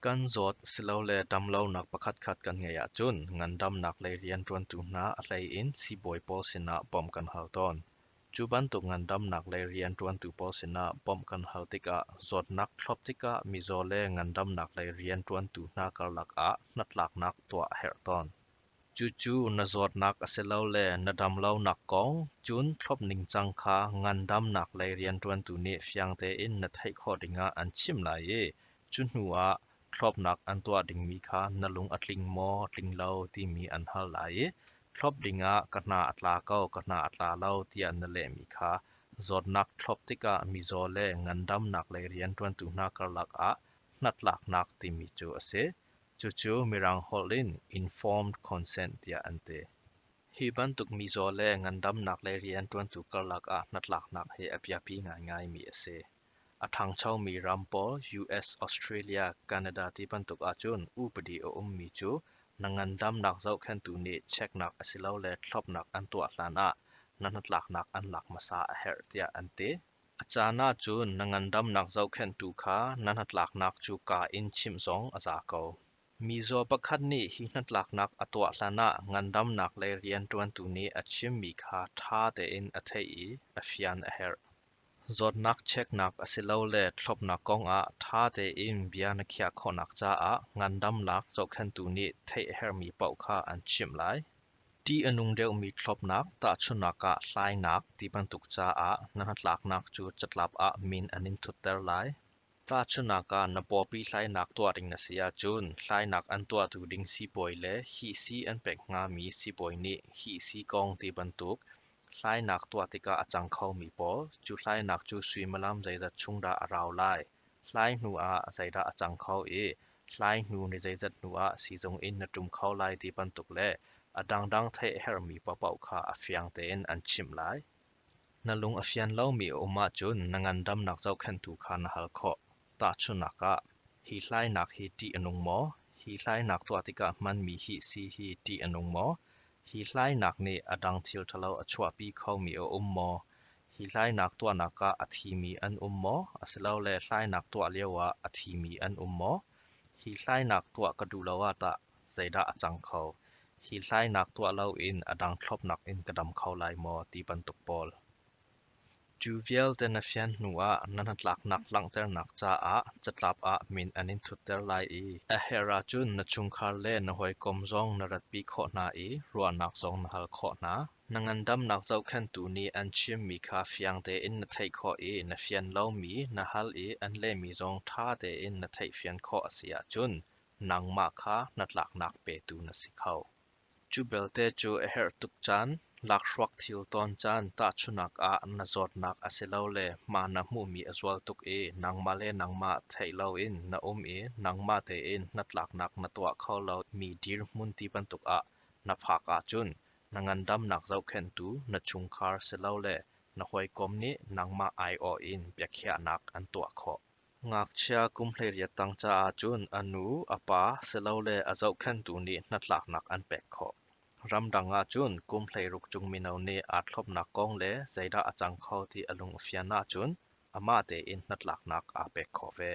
Kan zawt silole damlonak pakhatkhat kan ngeih ahcun ngandamnak lei rianṭuantu hna a hleiin siibawi pawl sinah bawmh kan hal tawn. Cu bantuk ngandamnak lei rianṭuantu pawl sinah bawmh kan hal tikah zawtnak thlawp tikah mizaw le ngandamnak lei rianṭuantu hna karlak ah hnatlaknak tuah a herh tawn. Cucu na zawtnak asilole na damlonak kong cun thlop ningcang kha ngandamnak lei rianṭuantu nih fiang tein na theih khawh dingah an chimh lai i cu hnuah thlopnak an tuah dingmi kha na lung a tling maw tling lo timi an hal lai i thlop dingah ka hna a tla ko ka hna a tla lo tiah na lehmi kha zawtnak thlop tikah mizaw le ngandamnak lei rianṭuantu hna karlak ah hnatlaknak timi cu a si. Cucu Mirang holh in Informed Consent tiah an ti. Hi bantuk mizaw le ngandamnak le rianṭuantu karlak ah hnatlaknak hi a biapi ngaingaimi a si. A ṭhangchomi ram pawl US, Australia, Canada ti bantuk ahcun upadi a ummi cu na ngandamnak zohkhenhtu nih cheknak asilole thlawpnak an tuah hlanah na hnatlaknak an lak hmasa a herh tiah an ti. A caan ahcun na ngandamnak zohkhenhtu kha na hnatlaknak cu kaa in chimh zong a za ko. Mizaw pakhat nih hi hnatlaknak a tuah hlanah ngandamnak le rianṭuantu nih a chimmi kha ṭha tein a theih i a fian a herh. Zawtnak cheknak asilole thlawpnak kongah ṭha tein bia na khiah khawhnak caah ngandamnak zohkhenhtu nih theih a herhmi paoh kha an chimh lai. Ṭih a nung deuhmi thlawpnak, tahchunhnak ah hlainak ti bantuk caah na hnatlaknak cu catlap ah min an in thutter lai. Tahchunhnak ah na pawpi hlainak tuah ding na si ahcun hlainak an tuahtu ding sibawi le hihsi an pek hngami sibawi nih hihsi kong ti bantuk hlainak tuah tikah a cang khomi pawl, cu hlainak cu suimilam zeizat chung dah a rau lai? Hlai hnu ah zeidah a cang kho i hlai hnu ni zeizat hnu ah siizung in na ṭum kho lai ti bantuk le a dangdang theih a herhmi paohpaoh kha a fiang tein an chimh lai. Na lung a fian lomi a um ahcun na ngandamnak zohkhenhtu kha na hal khawh. Tahchunhnak ah, hi hlainak hi ṭih a nung maw? Hi hlainak tuah tikah hmanmi hi si hi ṭih a nung maw? Hi hlainak nih a dang thil ṭhalo a chuahpi khomi a um maw? Hi hlainak tuahnak ah a thimi an um maw asilole hlainak tuah lioah a thimi an um maw? Hi hlainak tuah ka duh lo ah tah zeidah a cang kho? Hi hlainak tuah loin a dang thlopnak in ka dam kho lai maw ti bantuk pawl. Cu vialte na fian hnuah na hnatlaknak langhternak caah catlap ah min an in thutter lai i a herh ahcun na chungkhar le na hawikom zong na ratpi khawh hna i ruahnak zong na hal khawh hna. Na ngandamnak zohkhenhtu nih an chimmi kha fiang tein na theih khawh i na fian lomi, na hal i an lehmi zong ṭha tein na theihfian khawh a si ahcun nangmah kha hnatlaknak petu na si kho. Cu belte cu a herh tuk caan, lakhruak thil tawn caan tahchunak ah na zawtnak asilole hma na hmuhmi a zual tuk i nangmah le nangmah theih loin na um i nangmah tein hnatlaknak na tuah kho lomi dirhmun ti bantuk ah na phak ahcun Na ngandamnak zohkhenhtu na chungkhar silole na hawikom nih nangmah aiawh in biakhiahnak an tuah khawh. Ngakchia kum hleiriat tang caah cun a nu, a pa silole a zohkhenhtu nih hnatlaknak an pek khawh. Ramdang ah cun kum hleiruk cung mino nih aa thlopnak kong le zeidah a cang kho ti a lung a fian ahcun amah tein hnatlaknak aa pek khawh ve.